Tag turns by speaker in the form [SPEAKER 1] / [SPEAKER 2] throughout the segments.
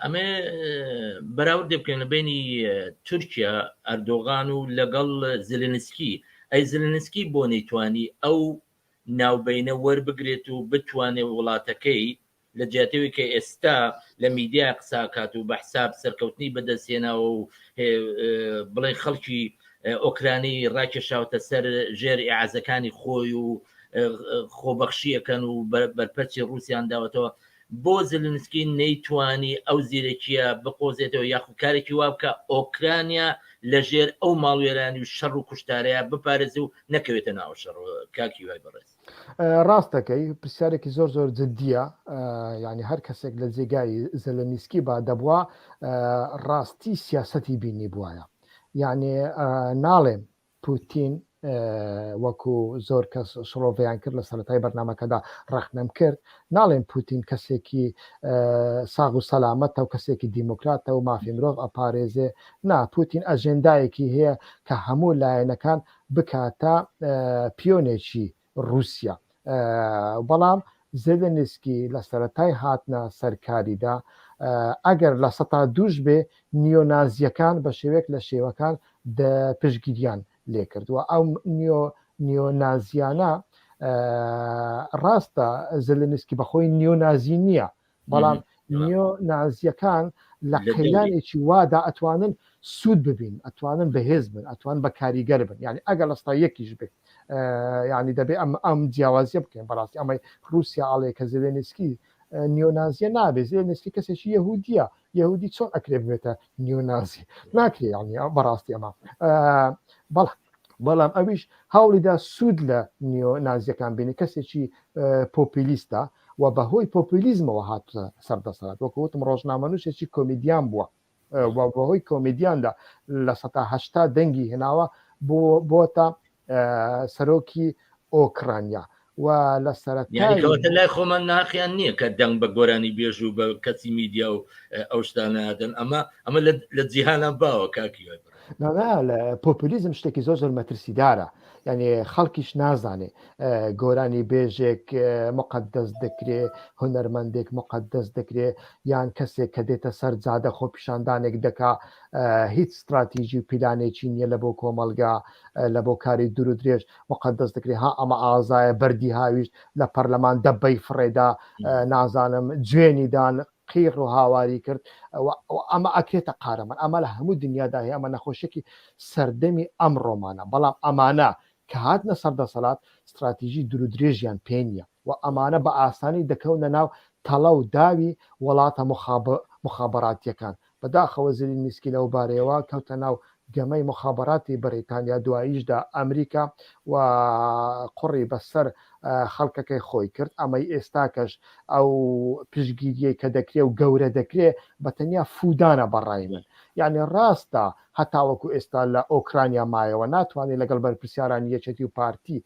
[SPEAKER 1] ئەمێ بەراوردێ بکەین لە بینی تورکیا ئەردۆغان و لەگەڵ زلنسکی ئەی زلنسکی بۆ نەیتوانی ئەو ناوبینە وەربگرێت و بتوانێت وڵاتەکەی لە جیاتەوەی کە ئێستا لە میدیا قساکات و بە حساب سەرکەوتنی بەدەستێناوە و بڵێ خەڵکی ئۆکرانی ڕاکێشاوتە سەر ژێر ئازەکانی خۆی و خۆبەخشیەکەن و بەرپەرچی رووسیان داوەتەوە بۆ زلنسکی نەیتوانی ئەو زیرەکییە بقۆزێتەوە یاخو کارێکی وا بکا ئۆکرانیا لە ژێر ئەو ماڵوێرانی و شەڕ و کوشتارەیا بپارێزێ و نەکەوێتە ناو شەڕەوە کاک هیوای بەڕێز. ڕاست دەکەی
[SPEAKER 2] پرسیارێکی زۆر زۆر جدیە یانی هەر کەسێک لە جێگای زەلەنیسکی با دەبوا ڕاستی سیاسەتی بینی بوایە یانێ ناڵێم پوتین وەکو زۆر کەس شڕۆڤەیان کرد لە سەرەتای بەرنمەکەدا ڕەخنەم کرد ناڵێن پوتین کەسێکی ساغ و سەلامەتە و کەسێکی دیموکراتە و مافی مرۆڤ ئەپارێزێ نا پوتین ئەژێندایەکی هەیە کە هەموو لایەنەکان بکاتە پیۆنێکی روسیا بەڵام زێلێنسکی لە سەرەتای هاتنە سەر کاریدا ئەگەر لە سەتا دووش بێ نیۆنازیەکان بە شێوێک لە شێوەکان پشگیریان لێکردووە ئەو نیۆ نیۆنازیانە ڕاستە زلنسکی بەخۆی نیۆنازی نییە بەڵام نیۆ نازیەکان لە قەیرانێکی وادا ئەتوانن سوود ببین ئەتوانن بەهێز بن ئەتوان بە کاریگەر بن ینی ئەگەر لەستا یەکیش بێت ینی دەبێت ئەم ئەم جیاوازیە بکەین بەڕاستی ئەمەی رووسیا ئاڵێ کە زلێنسکی نیۆنازیە نابێت زلێنسکی کەسێکی یهودیە یەهودی چۆن ئەکرێ ببێتە نیونازی ناکرێ یعنی ئەو بەڕاستی ئەمە بەڵام بەڵام ئەویش هەوڵیدا سوود لە نیۆ نازیەکان بینی کەسێکی پۆپیلیستە و بە هۆی پۆپیلیزمەوە هاتە سەر دەسەڵات وەکوتم ڕۆژنامەنووسێکی کۆمیدیان بووە بەهۆی کۆمیدیاندا لە سەهشتا دەنگی هێناوە بۆ بۆتە سەرۆکی ئۆکرانیا و لە سەرەتای لای
[SPEAKER 1] خۆمان ناقیان نییە کە دەنگ بە گۆرانی بێژ و بە کەسی میدیا و ئەو شتانەدەن ئەمە ئەمە لە جیهانە باوە کاکی
[SPEAKER 2] پۆپولیزم شتێکی زۆر زۆر مەترسیدارە یعنی خەڵکیش نازانێ گۆرانی بێژێک مقدەست دەکرێ هونەرمەندێک مقدەست دەکرێ یان کەسێک کە دێتە سەر جادە خۆپیشاندانێک دەکا هیچ ستراتیژی و پیلانێکی نییە لە بۆ کۆمەلگا لە بۆ کاری دوور درێژ وقت دەست دەکری ها ئەمە ئازایە بەردی هاویشت لە پەرلەمان دەبەی فڕێدا نازانم جوێنی دان قیڕ و هاواری کرد ئەمە ئەکرێتە قارەمان ئەمە لە هەموو دنیادا هەیە ئەمە نەخۆشێکی سەردەمی ئەم ڕۆمانە بەڵام ئەمانە کە هاتنە سەر دەسەڵات ستراتیژی دوور درێژیان پێ نییە و ئەمانە بە ئاسانی دەکەونە ناو تەڵە و داوی وەڵاتە موخابەراتیەکان، بە داخەوە زیلینیسکی لەو بارەیەوە کەوتە ناو گەمەی موخابەراتی بەریتانیا دواییشدا ئەمریکا و قوڕی بە سەر خەڵکەکەی خۆی کرد ئەمەی ئێستاکەش ئەو پشگیریەی کە دەکرێ و گەورە دەکرێ بە تەنیا فودانە بە ڕای من یانی ڕاستە هەر تاوەکو ئێستا لە ئۆکرانیا مایەوە ناتوانی لەگەڵ بەرپرسیارانی یەکێتی و پارتی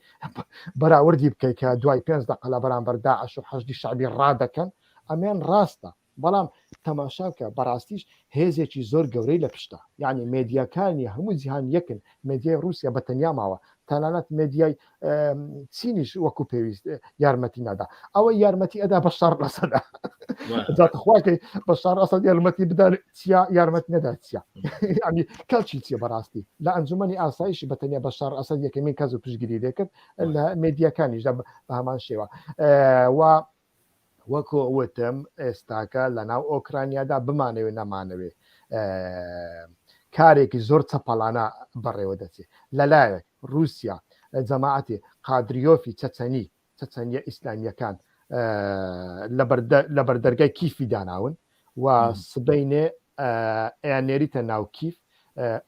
[SPEAKER 2] بەراوردی بکەی کە دوای پێنج دەقە لە بەرامبەر داعش و حەشدی شەعبی ڕادەکەن ئەمەیان ڕاستە بەڵام تەماشا بکە بەڕاستیش هێزێکی زۆر گەورەی لە پشتە یعنی مێدیاکانی هەموو جیهان یەکن مێدیای ڕوسیا بە تەنیا ماوە تەنانەت مێدیای چینیش وەکو پێویست یارمەتی نادا ئەوە یارمەتی ئەدا بە شار ڕسەدا داتخواکەی بە شار ئەسە یارمەتی بدار چیا یارمەت نەدا چیا ئەمی کەچی چیە بەڕاستی لە ئەنجومی ئاسایش بەتەنیا بە شار ئەسە یەکەمین کەس و پشگیری دەکرد لە مدیەکانیش بە هەمان شێوە و وەکو وتم ئێستاکە لەناو ئۆکرانیادا بمانەوێ نەمانەوێ کارێکی زۆر چەپەڵانە بەڕێوە دەچێت لەلایەک رووسیا جەماعەتی قادریۆفی چەچەنی چەچەنیە ئیسلامیەکان لە بەردەرگای کیفی داناون و سبەینێ ئەیان نێریتە ناو کیف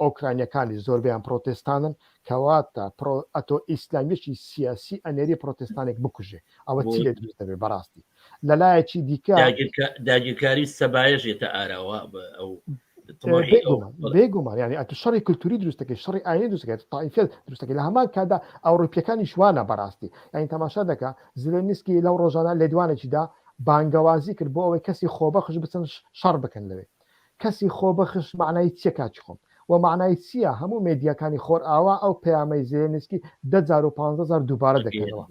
[SPEAKER 2] ئۆکرانیەکانی زۆربیان پرۆتستانن کەواتە ئەتۆ ئیسلامیشی سیاسی ئەنێری پرۆتستانێک بکوژێ ئەوە چی لێ دروست دەبێ بەڕاستی لەلایەکی دیکە داگیرکاری
[SPEAKER 1] سەبایەژێتە ئاراوە
[SPEAKER 2] ئەو بێگومان ینی ئەتو شەڕی کللتوری دروستەکە شەڕی ئاینی دروستەکە تایفێت دروستەکە لە هەمان کادا ئەوروپیەکانی شوانە بەڕاستی یعنی تەماشا دەکە زلێنسکی لەو ڕۆژانە لێدوانێکیدا بانگەوازی کرد بۆ ئەوەی کەسی خۆبەخش بچن شەڕ بکەن لەوێ کەسی خۆبەخش مەعنای چیە کاکی خۆم وە مەعنای چیە هەموو مێدیاکانی خۆرئاوا ئەو پەیامەی زێلێنسکی دە جار و پانزە جار دووبارە دەکەنەوە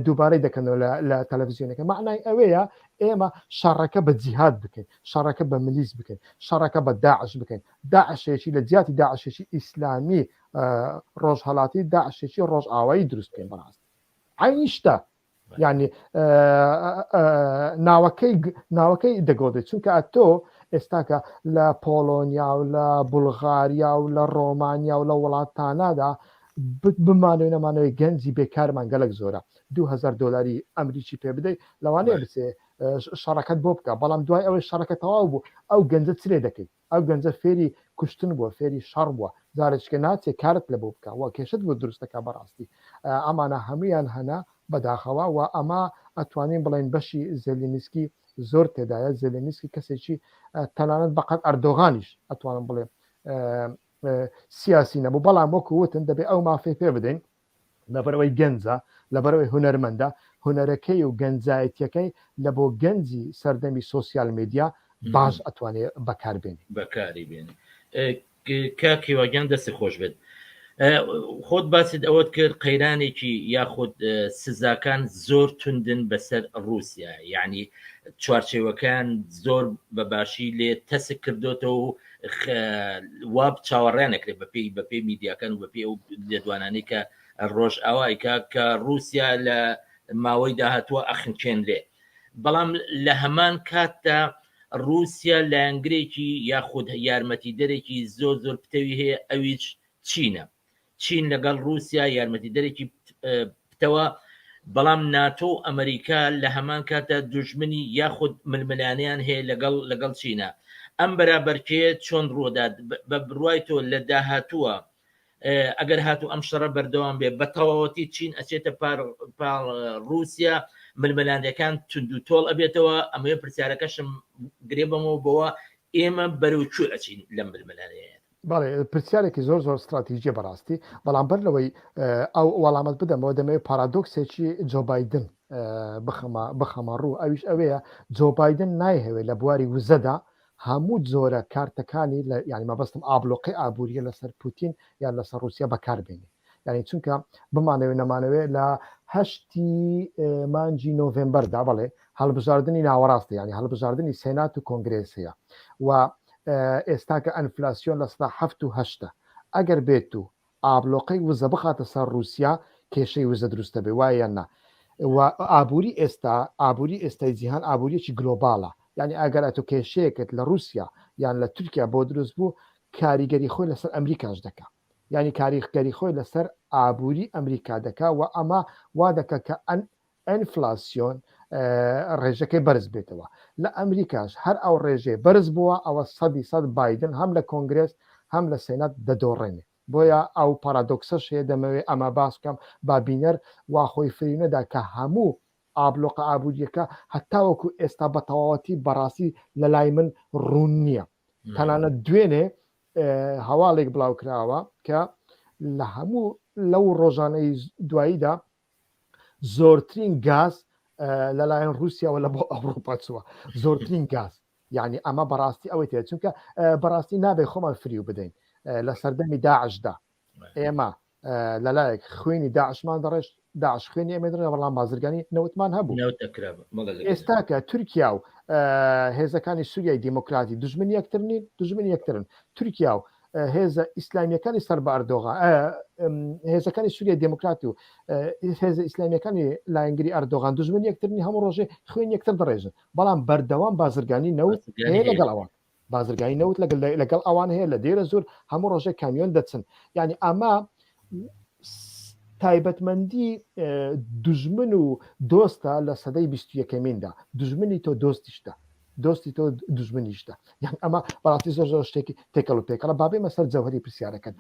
[SPEAKER 2] دووبارەی دەکەنەوە لە تەلەفزیۆنەکە مەعنای ئەوەیە ئێمە شەڕەکە بە جیهاد بکەین شەڕەکە بە ملیس بکەین شەڕەکە بە داعش بکەین داعشێکی لە جیاتی داعشێکی ئیسلامی ڕۆژهەڵاتی داعشێکی ڕۆژئاوایی دروست بکەین بەڕاست عینی شتە ینی ناوەکەی ناوەکەی دەگۆدێت چونکە ئەتۆ ئێستاکە لە پۆلۆنیا و لە بولغاریا و لە ڕۆمانیا و لە وڵاتانادا بمانوێ نەمانەوەی گەنجی بێکارمان گەلک زۆرە 2000 دلاری ئەمریکی پێ بدەیت لەوانەیە بچێ شەڕەکەت بۆ بکە بەڵام دوای ئەوەی شەڕەکە تەواو بوو ئەو گەنجە چرێ دەکەیت ئەو گەنجە فێری کوشتن بوە فێری شەڕ بوە جارێچکە ناچێ کارت لەبۆ بکە وە کێشەت بۆ دروست دەکا بەڕاستی ئەمانە هەمویان هەنە بەداخەوە وە ئەمە ئەتوانین بڵێن بەشی زێلینسکی زۆر تێدایە زێلینسکی کەسێکی تەنانەت بەقەت ئەردۆغانیش ئەتوانم بڵێ سیاسی نەبوو بەڵام وەکو وتن دەبێ ئەو مافی پێ بدەین لەبەرئەوەی گەنجە، لەبەرئەوەی هونەرمەندە، هونەرەکەی و گەنجایەتیەکەی لە بۆ گەنجی سەردەمی سۆسیال میدیا باش ئەتوانێ بەکار بێنێ. بەکاری بێنێ.
[SPEAKER 1] کاک هیوا گیان دەستت خۆش بێت. خۆت باست ئەوەت کرد قەیرانێکی یاخود سزاکان زۆر توندن بەسەر ڕوسیا یعنی چوارچێوەکان زۆر بە باشی لێ تەسک کردوێتەوە و وا چاوەڕێ نەکرێت بە پێی بە پێی میدیاکان و بە پێ ئەو لێدوانانەی کە ڕۆژ ئاوای کە کە رووسیا لە ماوەی داهاتوە ئەخنچێنرێ بەڵام لە هەمان کاتدا رووسیا لایەنگرێکی یاخود یارمەتی دەرێکی زۆر زۆر پتەوی هەیە ئەویش چینە چین لەگەڵ ڕووسیا یارمەتیدەرێکی پتەوە، بەڵام ناتۆ و ئەمەریکا لە هەمان کاتدا دوژمنی یاخود ململانێیان هەیە لەگەڵ لەگەڵ چینە. ئەم بەرابەرکێیە چۆن ڕوودات بە بڕوای تۆ لە داهاتووە ئەگەر هاتوو ئەم شەڕە بەردەوام بێ بە تەواوەتی چین ئەچێتە پار پاڵ ڕووسیا ململانێکان توندو تۆڵ ئەبێتەوە ئەمەوێ پرسیارەکەشم گرێ بەمەوە بەوە ئێمە بەرەو کوێ ئەچین لەم ململانێیە؟ بەڵێ
[SPEAKER 2] پرسیارێکی زۆر زۆر ستراتیژیە بەڕاستی بەڵام بەر لەوەی ئەو وەڵامەت بدەمەوە دەمەوێت پارادۆکسێکی جۆبایدن بخەمە ڕوو ئەویش ئەوەیە جۆبایدن نایهەوێت لە بواری وزەدا هەموو جۆرە کارتەکانی لە یانی مەبەستم ئابلۆقی ئابوووریە لەسەر پوتین یان لەسەر رووسیا بەکاربێنێ یانی چونکە بمانەوێ نەمانەوێ لە هەشتی مانجی نۆڤمبەردا بڵێ هەڵبژاردننی ناوەڕاستە ینی هەڵبژاردننی سێنات و کۆنگرێس هەیە و ئێستا کە ئەنفلاسیۆن لە ستا هەفت و هەشتە ئەگەر بێت و ئابلۆقەی وزە بخاتە سەر رووسیا کێشەی وزە دروستە بێ وایە نا ئابووری ئێستا ئابووری ئێستای جیهان ئابووریەکی گلۆباڵە یعنی ئەگەر ئەتو کێشەیەکت لە رووسیا یان لە تورکیا بۆ دروست بوو کاریگەری خۆی لەسەر ئەمریکاش دەکە یانی کاریخگەری خۆی لە سەر ئابووری ئەمریکا دەکا و ئەمە وا دەکە کە ئەن ئەنفلاسیۆن ڕێژەکەی بەرز بێتەوە لە ئەمریکاش هەر ئەو ڕێژەی بەرز بووە ئەوە سەدی سەد بادن هەم لە کۆنگرێس هەم لە سێنات دەدۆڕێنێ بۆیە ئەو پارادۆکسەش هەیە دەمەوێ ئەمە باسکەم با بینەر واخۆی فرینەدا کە هەموو ئابلۆقە ئابوووریەکە هەتاوەکو ئێستا بە تەواوەتی بەڕاستی لە لای من ڕوون نییە تەنانەت دوێنێ هەواڵێک بڵاوکراوە کە لە هەموو لەو ڕۆژانەی دواییدا زۆرترین گاز لەلایەن رووسیاوە لە بۆ ئەوروپا چووە زۆرترین گاز یعنی ئەمە بەڕاستی ئەوەی تێ چونکە بەڕاستی نابێ خۆمان فریو بدەین لە سەردەمی داعشدا ئێمە لەلایەک خوێنی داعشمان دەڕێشت داعش خوێنی ئەمە دەڕێ بەڵام بازرگانی نەوتمان هەبوو ئێستاکە تورکیا و هێزەکانی سووریای دیموکراتی دژمن یەکتر نین دژمن یەکترن تورکیا و هێزە ئیسلامیەکانی سەر بە ئەردۆغا هێزەکانی سووریای دموکرات و هێزە ئیسلامیەکانی لایەنگری ئەردۆغان دژمن یەکترنی هەموو ڕۆژێ خوێن یەکتر دەڕێژن بەڵام بەردەوام بازرگانی نەوت لەگەڵەوە بازرگانی نەوت لەگەل لەگەڵ ئەوان هەیە لە دێرە زور هەموو ڕۆژێک کامیۆن دەچن یعنی ئەمە تایبەتمەندی دژمن و دۆستە لە سەدەی بیست یەکەمیندا دژمنی تۆ دۆستیشتە دۆستی تۆ دژمنیشتە یان ئەمە بەڕاستی زۆر زۆر شتێکی تێکەڵ و پێکەڵە بابێ مەسەر جەوهری پرسیارەکەن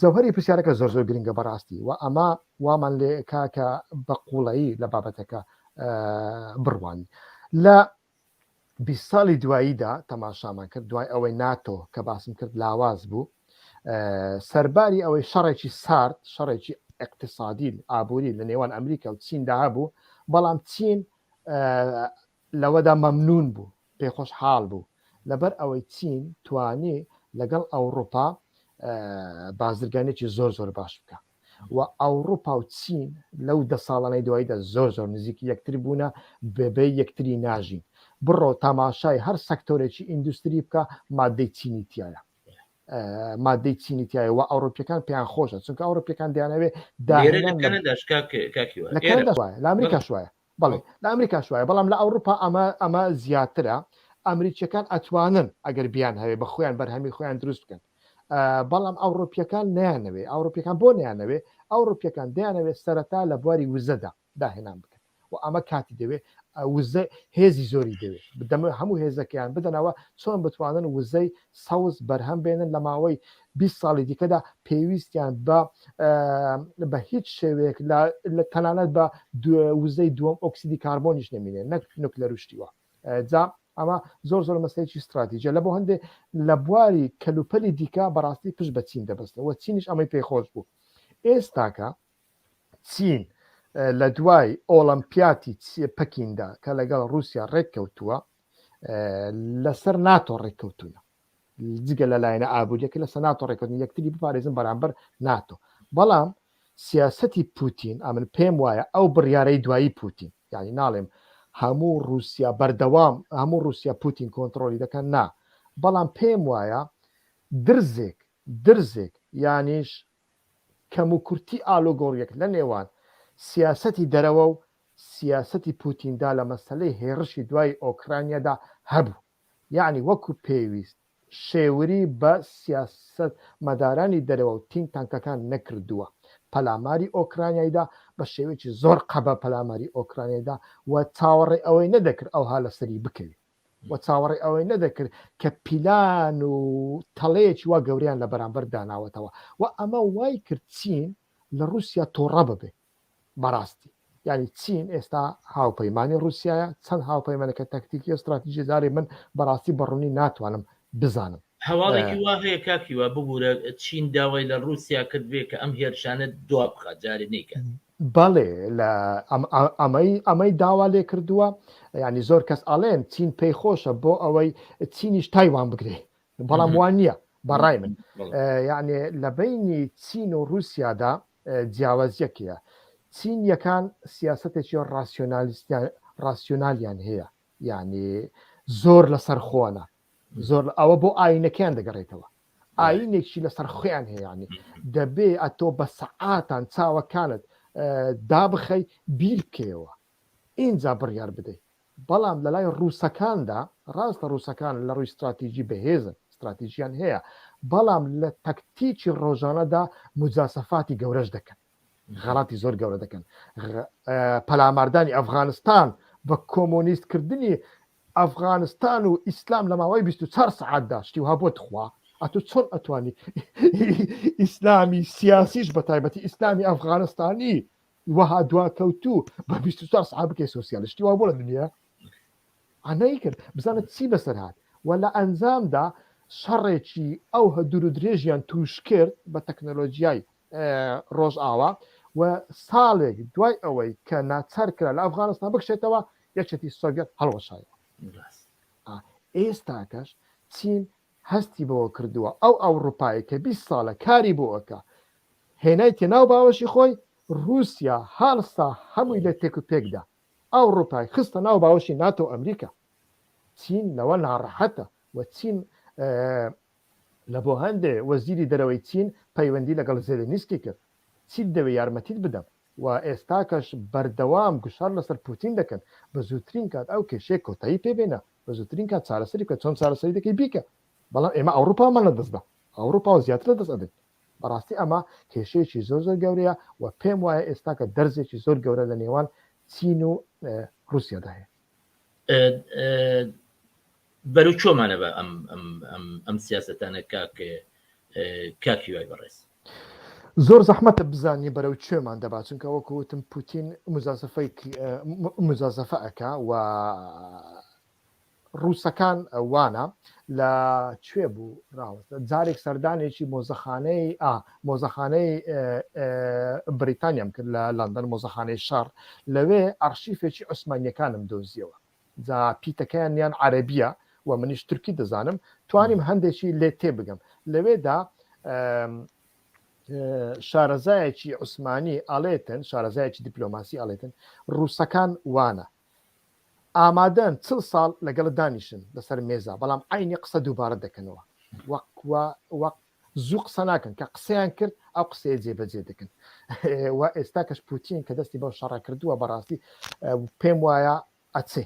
[SPEAKER 2] جەوهری پرسیارەکە زۆر زۆر گرنگە بەڕاستی و ئەمە وامان لێ کاکە بە قوڵایی لە بابەتەکە بڕوان لە بیست ساڵی دواییدا تەماشامان کرد دوای ئەوەی ناتۆ کە باسم کرد لاواز بوو سەرباری ئەوەی شەڕێکی سارد شەڕێکی اقتصادی ئابووری لە نێوان ئەمریکا و چیندا هەبوو بەڵام چین لەوەدا مەمنون بوو پێخۆش حاڵ بوو لەبەر ئەوەی چین توانی لەگەڵ ئەوروپا بازرگانێکی زۆر زۆر باش بکە وە ئەوڕوپا و چین لەو دە ساڵانەی دواییدا زۆر زۆر نزیکی یەکتر بوونە بەبێ یەکتری ناژین بڕۆ تاماشای هەر سەکتۆرێکی ئیندوستری بکە مادەی چینی تیایە مادەی چینی تایە وە ئەوڕۆپیەکان پێیان خۆشە چونکە ئەوڕۆپیەکان دیانەوێ داێ لە ئەمریکا شوایە بەڵێ لە ئەمریکاش وایە بەڵام لە ئەوڕوپا ئەمە ئەمە زیاترە ئەمریکیەکان ئەتوانن ئەگەر بیان هەوێ بە خۆیان بەرهەمی خۆیان دروست بکەن بەڵام ئەوڕۆپیەکان نیانەوێ ئەوڕۆپیەکان بۆ نیانەوێ ئەوڕۆپیەکان دەیانەوێت سەرەتا لە بواری وزەدا داهێنان بکەن و ئەمە کاتی دەوێت وزە هێزی زۆری دەوێت بدەمە هەموو هێزەکەیان بدەنەوە چۆن بتوانن وزەی سەوز بەرهەم بێنن لە ماوەی بیست ساڵی دیکەدا پێویستیان بە بە هیچ شێوەیەک لە تەنانەت بە وزەی دووەم ئۆکسیدی کاربۆنیش نەمینێ نەک نوکلەر و شتیوە جا ئەمە زۆر زۆر مەسلێکی استراتیژە لە بۆ هەندێک لە بواری کەلوپەلی دیکە بەڕاستی پشت بە چین دەبستەوە چینیش ئەمەی پێی خۆش بوو ئێستاکە چین لە دوای ئۆڵمپیاتی پەکیندا کە لەگەڵ رووسیا ڕێککەوتووە لەسەر ناتۆ ڕێککەوتونە جگە لە لایەنە ئابوووریەکە لە سەناتۆ ڕێکردن یەکتری بپارێزن بەرامبەر ناتۆ بەڵام سیاستی پوتین ئەمن پێم وایە ئەو بڕیارەی دوایی پوتین یعنی ناڵێم هەموو رووسیا بەردەوام هەموو رووسیا پوتین کۆنتترۆلی دەکەن نا بەڵام پێم وایە درزێک درزێک یانیش کەم و کورتی ئالۆگۆڕیەک لە نێوان سیاستی دەرەوە و سیاستی پوتیندا لە مەسلەی هێڕشی دوای ئۆکرانیادا هەبوو یەعنی وەکو پێویست شێوری بە سیاسەتمەدارانی دەرەوە و تینک تانکەکان نەکردووە پەلاماری ئۆکرانیای دا بە شێوەیەکی زۆر قەبە پەلاماری ئۆکرانیای دا و چاوەڕێ ئەوەی نەدەکرد ئەوها لە سەری بکەوی و چاوەڕێ ئەوەی نەدەکرد کە پیلان و تەڵەیەکی وا گەوریان لە بەرامبەر داناوەتەوە و ئەمە وای کرد چین لە روسیا تۆڕە ببێت. بەڕاستی یعنی چین ئێستا هاوپەیمانی رووسایە چەند هاوپەیمانەکە تەکتیکی و ستراتیژی زاری من بەڕاستی بەڕوونی ناتوانم بزانم هەواڵێکی وا
[SPEAKER 1] هەیە کاکیوا ببورە چین داوای لە رووسیا کردبێ کە ئەم هێرشانە دوا بخە جارێ نیکات. بەڵێ
[SPEAKER 2] لە ئەمەی ئەمەی داوا لێ کردووە ینی زۆر کەس ئەڵێن چین پێی خۆشە بۆ ئەوەی چینیش تایوان بگرێ بەڵام وان نییە بەڕای من یعنی لە بینی چین و رووسیادا جیاوازیەک هەیە، چینیەکان سیاسەتێکی ڕاسیۆنالیان هەیە یعنی زۆر لەسەر خۆنە زۆر ئەوە بۆ ئاینەکەیان دەگەڕێتەوە ئاینێکی لەسەر خۆیان هەیەیانی دەبێ ئەتۆ بە سەعاتان چاوەکانت دابخەی بیرکەوە اینجا بڕیار بدەیت بەڵام لە لای ڕووسەکاندا، ڕاستە ڕووسەکان لە ڕووی ستراتیجی بەهێزن، ستراتیجیان هەیە، بەڵام لە تەکتیکی ڕۆژانەدا موجاسەفاتی گەورەش دەکەن، غەڵاتی زۆر گەورە دەکەن. پەلاماردانی ئەفغانستان بە کۆمۆنیست کردنی ئەفغانستان و ئیسلام لە ماوەی 24 سەعاتدا شتی وها بۆ تخوا ئەتو چۆن ئەتوانی ئیسلامی سیاسیش بە تایبەتی ئیسلامی ئەفغانستانی وەها دواکەوتوو بە بیست و چوار سەعات بکەی سۆسیالشتی وا بۆ لە دنیا ئەنەی کرد بزانت چی بەسەر هات و لە ئەنجامدا شەڕێکی ئەو هە دوور و درێژیان توش کرد بە تەکنەلۆژیای ڕۆژئاوا و ساڵێک دوای ئەوەی کە ناچار کرا لە ئەفغانستان بکشێتەوە یەکێتی سۆڤەت هەڵوەشایەوە ئێستاکەش چین هەستی بەوە کردووە ئەو ئەوڕوپایەی کە بیست ساڵە کاری بۆ ئەکا هێنایتە ناو باوەشی خۆی ڕوسیا هەڵسا هەمووی لێ تێک و پێک دا ئەوڕوپای خستە ناو باوەشی ناتۆ و ئەمریکا چین لەوە ناڕەحەتە و چین لە بۆ هەندێ وەزیری دەرەوەی چین پەیوەندی لەگەڵ زێلێنیسکی کرد چیت دەوێ یارمەتیت بدەم و ئێستاکەش بەردەوام گوشار لەسەر پوتین دەکەن بە زووترین کات ئەو کێشەیە کۆتایی پێ بێنە بە زووترین کات چارەسەری بکە چۆن چارەسەری دەکەی بیکە بەڵام ئێمە ئەوروپامان لە دەستدا ئەوروپا و زیاتر لە دەست ئەدەین بەڕاستی ئەمە کێشەیەکی زۆر زۆر گەورەیە و پێم وایە ئێستاکە دەرزێکی زۆر گەورە لە نێوان چین و رووسیادا هەیە
[SPEAKER 1] بەرو چۆمانە بە ئەم ئەم سیاستانە کاک کاک هیوای بەڕێز زۆر
[SPEAKER 2] زەحمەتە بزانانی بەرەو کوێمان دەبا چونکە وەکو وتم پوتین مزازفەی مزازفە ئەەکە و ڕووسەکان وانە لە کوێ بوو ڕاوەستە جارێک سەردانێکی مۆزەخانەی ئا مۆزەخانەی بریتانیام کرد لە لەندەن مۆزەخانەی شەڕ لەوێ ئەرشیفێکی عوسمانیەکانم دۆزیەوە جا پیتەکەیان یان عەرەبیە و منیش تورکی دەزانم توانیم هەندێکی لێ تێبگەم لەوێدا شارەزایەکی عوسمانی ئالێتن شارەزایەکی دیپلۆماسی ئالێتن ڕووسەکان وانە ئامادەن چل ساڵ لەگەڵ دانیشن لەسەر مێزا بەڵام عینی قسە دووبارە دەکەنەوە وەک زوو قسە ناکەن کە قسەیان کرد ئەو قسەیە جێبەجێ دەکەن و ئێستا کەش پوتین کە دەستی بەو شەڕە کردووە بەڕاستی پێم وایە ئەچێ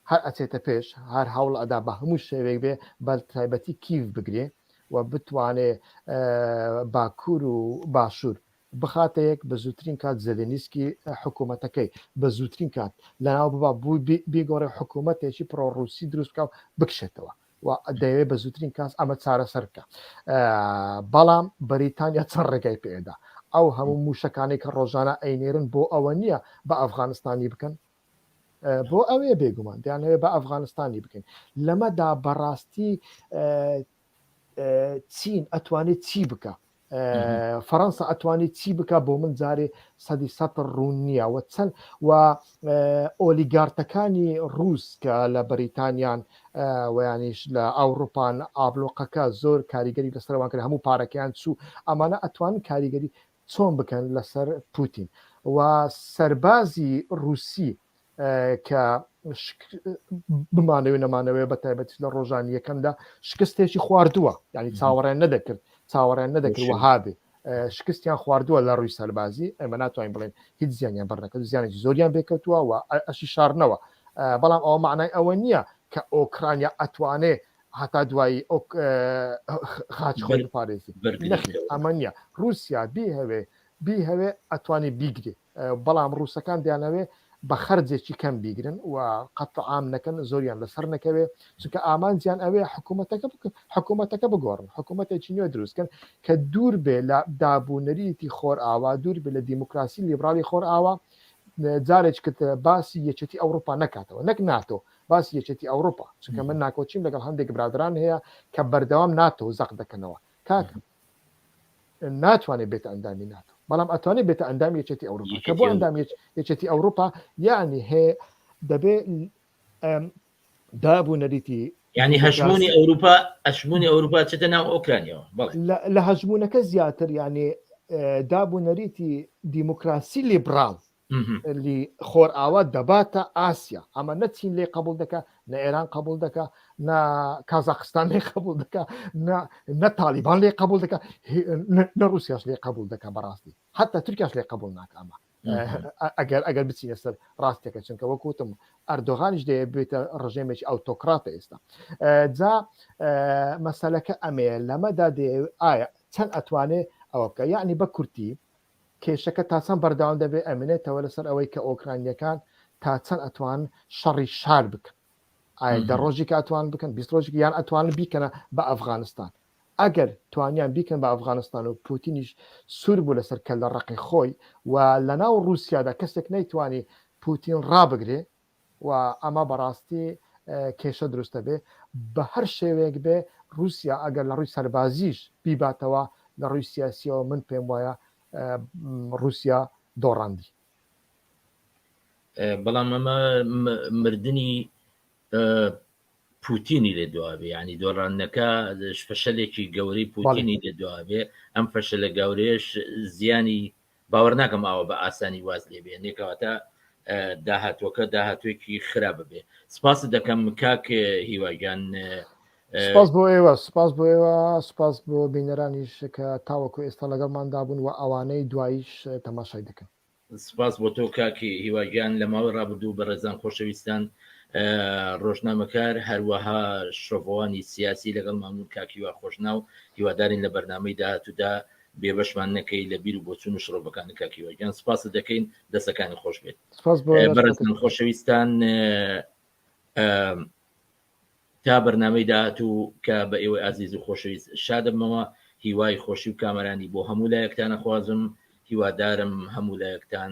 [SPEAKER 2] هەر ئەچێتە پێش هەر هەوڵ ئەدا بە هەموو شێوێک بێ بەل تایبەتی کیف بگرێ و بتوانێ باکوور و باشوور بخاتە یەک بە زووترین کات زەلێنیسکی حکوومەتەکەی بە زووترین کات لەناو ببا بوو بێگۆڕێ حکوومەتێکی پرۆڕوسی دروستکە و بکشێتەوە و دەیەوێت بە زووترین کاس ئەمە چارەسەر بکە بەڵام بەریتانیا چەند ڕێگای پێدا ئەو هەموو موشەکانی کە ڕۆژانە ئەینێرن بۆ ئەوە نییە بە ئەفغانستانی بکەن بۆ ئەوێ بێگومان دەیانەوێت بە ئەفغانستانی بکەین لەمەدا بەڕاستی چین ئەتوانێت چی بکە فەرەنسا ئەتوانی چی بکە بۆ من جارێ سەدی سەد ڕوون نییە وە چەند و ئۆلیگارتەکانی ڕووس کە لە بەریتانیان ویانیش لە ئەوروپان ئابلۆقەکە زۆر کاریگەری لەسەروان کرد هەموو پارەکەیان چوو ئەمانە ئەتوان کاریگەری چۆن بکەن لەسەر پوتین و سەربازی رووسی کە بمانەوێ نەمانەوەێ بە تایبەتی لە ڕۆژانی یەکەمدا شکستێکی خواردووە ینی چاوەڕێن نەدەکرد چاوەڕێن نەدەکرد وهابێ شکستیان خواردووە لە ڕووی سەربازی ئەمە ناتوانین بڵێن هیچ زیانیان بەرنەکەوت زیانێکی زۆریان بێکەوتووە و ئەشی شارنەوە بەڵام ئەوە معنای ئەوە نییە کە ئۆکرانیا ئەتوانێ هەتا دوایی خاچ خۆی پارێزی ئەمە نییە رووسیا بیهوێ بیهوێ ئەتوانی بیگرێت بەڵام ڕووسەکان دەیانەوێ بە خەرجێکی کەم بیگرن و قەت عام نەکەن زۆریان لەسەر نەکەوێ چونکە ئامانجیان ئەوێ حکوومەتەکە حکوومەتەکە بگۆڕن حکوومەتێکی نوێ دروستکەن کە دوور بێ لە دابوونەریتی خۆر ئاوا دوور بێ لە دیموکراسی لیبرالی خۆر ئاوا جارێک کرد باسی یەکێتی ئەوروپا نکاتەوە نەک ناتۆ باسی یەکێتی ئەوروپا چونکە من ناکۆچیم لەگەڵ هەندێک برادران هەیە کە بەردەوام ناتۆ زەق دەکەنەوە کاکە ناتوانێت بێتە ئەندامی ناتۆ بەڵام ئەتوانێت بێتە ئەندامی یەکێتی ئەوروپا کە بۆ ئەندام یەکێتی ئەوروپا یعنی هەیە دەبێت دابوو نەریتی ینی هەژمونی
[SPEAKER 1] ئەوروپا ئەشمونی ئەوروپا چێتە ناو ئۆکرانیەوە لە هەژمونونەکە
[SPEAKER 2] زیاتر یانێ دابوو نەریتی دیموکراسی لیبرال لی خۆرئاوا دەباتە ئاسیا ئەمە نەچین لێ قبول دەکە نە ئێران قبول دەکە نە کازاخستان لێ قبول دەکە نە تاالبان لێ قبول دەکە نە رووسیاش لێ قبول دەکە بەڕاستی حتا ترکاش لێ قبول ناکەمە ئەگەر ئەگەر بچینە سەر ڕاستەکە چونکە وەکوتم ئەردۆغانیش دەیە بێتە ڕژێمێکی ئەوتۆکراتە ئێستا جا مەسلەکە ئەمەیە لەمەدا دێ ئایا چەند ئەتوانێ ئەوە بکە یعنی بە کورتی کێشەکە تا چەند بەردەوام دەبێت ئەمێنێتەوە لەسەر ئەوەی کە ئۆکراینییەکان تا چەند ئەتوانن شەڕی شار بکەن، ئایا دە ڕۆژێکە ئەتوانن بکەن، بیست ڕۆژێک یان ئەتوانن بیکەنە بە ئەفغانستان. ئەگەر توانیان بیکەن بە ئەفغانستان و پوتینیش سوور بوو لەسەر کەللەڕەقی خۆی و لەناو ڕووسیادا کەسێک نەیتوانی پوتین ڕابگرێ، و ئەمە بەڕاستی کێشە دروست دەبێت بە هەر شێوەیەک بێت، ڕووسیا ئەگەر لە ڕووی سەربازیش بیباتەوە لە ڕووی سیاسییەوە من پێم وایە ڕووسیا دۆڕاندی.
[SPEAKER 1] بەڵام ئەمە مردنی پوتینی لێ دواێ ینی دۆڕانەکە فشەلێکی گەورەی پوتینی لێ دواێ ئەم فشەلە گەورەش زیانی باوەرناکەم ئاوا بە ئاسانی واز لێ بێنێ کەواتە داهاتوەکە داهاتوێکی خرا ببێ سپاست دەکەم کاک هیواگیان
[SPEAKER 2] سپاس بۆ ئێوە سپاس بۆ ئێوە سپاس بۆ بینەرانیش کە تاوەکو ئێستا لەگەڵماندا بوون و ئەوانەی دواییش تەماشای دەکەن سپاس بۆ تۆ
[SPEAKER 1] کاکی هیواگیان لە ماوەی ڕابردوو بە ڕێزان خۆشەویستان ڕۆژنامەکار هەروەها شۆڤوانی سیاسی لەگەڵ مامون کاکیوا خۆشناو هیوادارین لە بەرنمەی داهاتوودا بێبەشمان نەکەی لە بیر و بۆچون و شڕۆڤەکانی کاک هیوا گیان سپاست دەکەین دەستەکانی خۆش بێت سپاس بۆ ئێوە. بەڕێز من خۆشەویستان تا بەرنامەی داهاتوو کە بە ئێوەی ئازیز و خۆشەویست شادەمەوە هیوای خۆشی و کامەرانی بۆ هەموو لایەکتانە خوازم هیوادارم هەموو لایەکتان